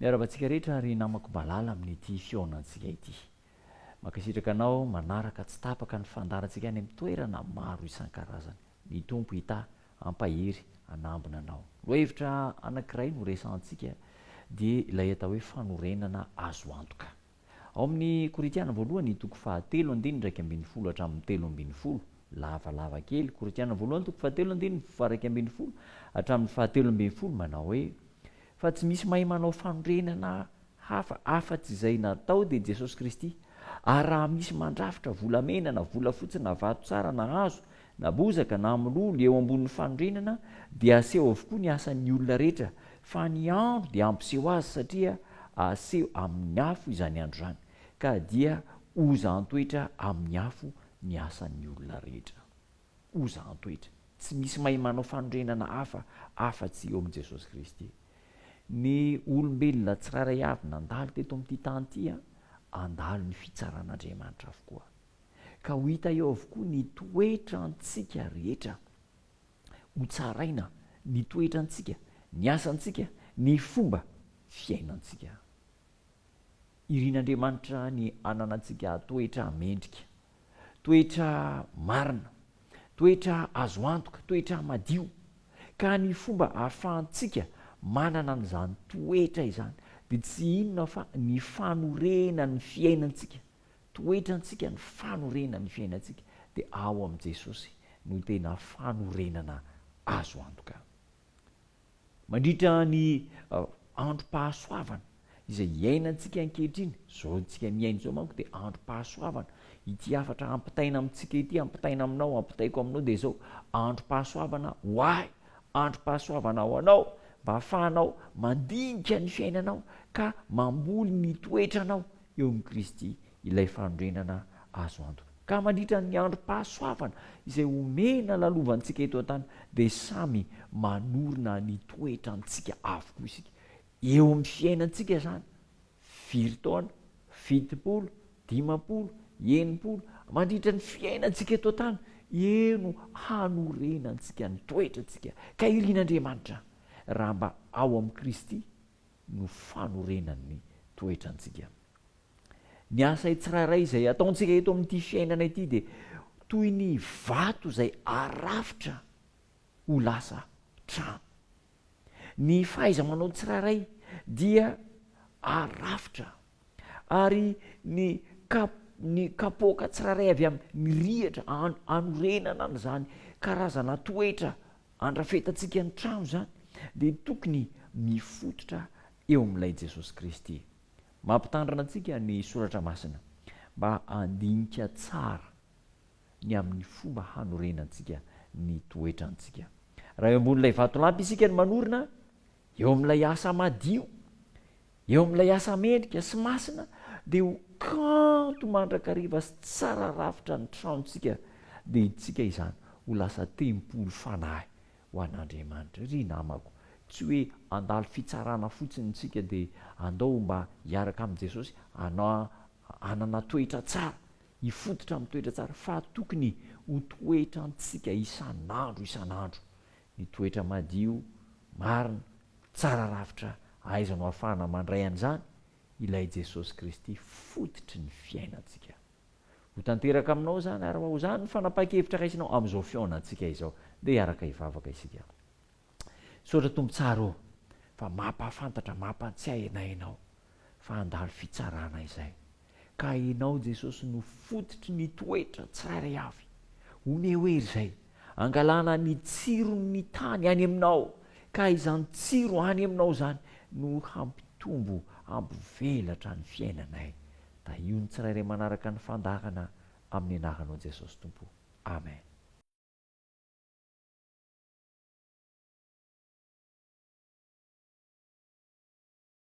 Miarahaba antsika rehetra ry namako malala amin'ity fihaonantsika ity. Mankasitraka anao manaraka tsy tapaka ny fandaharantsika any amin'ny toerana maro isan-karazany. Ny Tompo hitahy hampahery hanambina anao. Lohahevitra anankiray no resahantsika dia ilay atao hoe fanorenana azo antoka. Ao amin'ny Korintiana voalohany, toko fahatelo andininy iraika ambin'ny folo hatramin'ny telo ambin'ny folo, lavalava kely, Korintiana voalohany, toko fahatelo andininy faha-iraika ambin'ny folo hatramin'ny fahatelo ambin'ny folo, manao hoe, Fa tsy misy mahay manao fanorenana hafa afa-tsy izay natao dia Jesosy Kristy, ary raha misy mandrafitra volamena na volafotsy na vato tsara na hazo Na bozaka na mololo eo ambonin'ny fanorenana dia aseho avokoa ny asan'ny olona rehetra fa ny andro dia hampiseho azy satria aseho amin'ny afo izany andro izany ka dia oza antoetra amin'ny afo ny asan'ny olona rehetra. Oza antoetra. Tsy misy mahay manao fanorenana hafa afa-tsy eo amin'i Jesosy Kristy. Ny olombelona tsirairay avy nandalo teto amin'ity tany ity an, handalo ny fitsaran'Andriamanitra avokoa. ka ho hita eo avokoa ny toetrantsika rehetra. Hotsaraina ny toetrantsika, ny asantsika, ny fomba fiainantsika. Irin'Andriamanitra ny hananantsika toetra mendrika, toetra marina, toetra azo antoka, toetra madio. Ka ny fomba ahafahantsika manana an'izany toetra izany dia tsy inona fa ny fanorenan'ny fiainantsika Toetrantsika ny fanorenana ny fiainantsika dia ao amin'i Jesosy no tena fanorenana azo antoka. Mandritra ny androm-pahasoavana izay iainantsika ankehitriny, izao antsika miaina izao manko dia androm-pahasoavana, ity hafatra hampitaina amintsika ity, hampitaina aminao, hampitaiko aminao dia izao, androm-pahasoavana ho ahy, androm-pahasoavana ho anao, mba hahafahanao mandinika ny fiainanao ka mamboly ny toetranao eo amin'i Kristy ilay fanorenana azo antoka. Ka mandritra ny androm-pahasoavana izay omena lalovantsika eto an-tany dia samy manorina ny toetrantsika avokoa isika. Eo amin'ny fiainantsika izany, firy taona? Fitopolo? Dimampolo? Enimpolo? Mandritra ny fiainantsika eto an-tany, eo no hanorenantsika ny toetrantsika. Ka irin'Andriamanitra raha mba ao amin'i Kristy no fanorenan'ny toetrantsika. Ny asay tsirairay izay ataontsika eto amin'ity fiainana ity dia toy ny vato izay arafitra ho lasa trano. Ny fahaiza-manao tsirairay dia arafitra Ary ny kap ny kapoaka tsirairay avy am ny rihatra an anorenana an zany karazana toetra andrafetantsika ny trano zany dia tokony mifototra eo am lay Jesosy Kristy. Mampitandrina antsika ny Soratra Masina mba handinika tsara ny am ny fomba hanorenantsika ny toetrantsika. Raha eo ambony lay vatolampy isika no manorina eo am lay asa madio, Eo amin'ilay asa mendrika sy masina dia ho kanto mandrakariva sy tsara rafitra ny tranontsika dia hidintsika izany ho lasa tempoly fanahy ho an'Andriamanitra. Ry namako, tsy hoe handalo fitsarana fotsiny isika dia andao mba hiaraka amin'i Jesosy hanana toetra tsara, hifototra amin'ny toetra tsara fa tokony ho toetrantsika isan'andro isan'andro ny toetra madio, marina, tsara rafitra ahaizanao ahafahana mandray an'izany, ilay Jesosy Kristy fototry ny fiainantsika. Ho tanteraka aminao izany ary raha izany ny fanapahan-kevitra raisinao amin'izao fihaonantsika izao dia hiaraka hivavaka isika. Misaotra Tompo tsara ô fa mampahafantatra, mampantsiahy anay Ianao. fa handalo fitsarana izay. Ka enao Jesosy no fototry ny toetra tsirairay avy. Omeo hery izay angalana ny tsiron' ny tany any aminao, ka izany tsiro any aminao izany no hampitombo hampivelatra ny fiainanay. Tahio ny tsirairay manaraka ny fandaharana amin' ny anaranao Jesosy Tompo. Amen.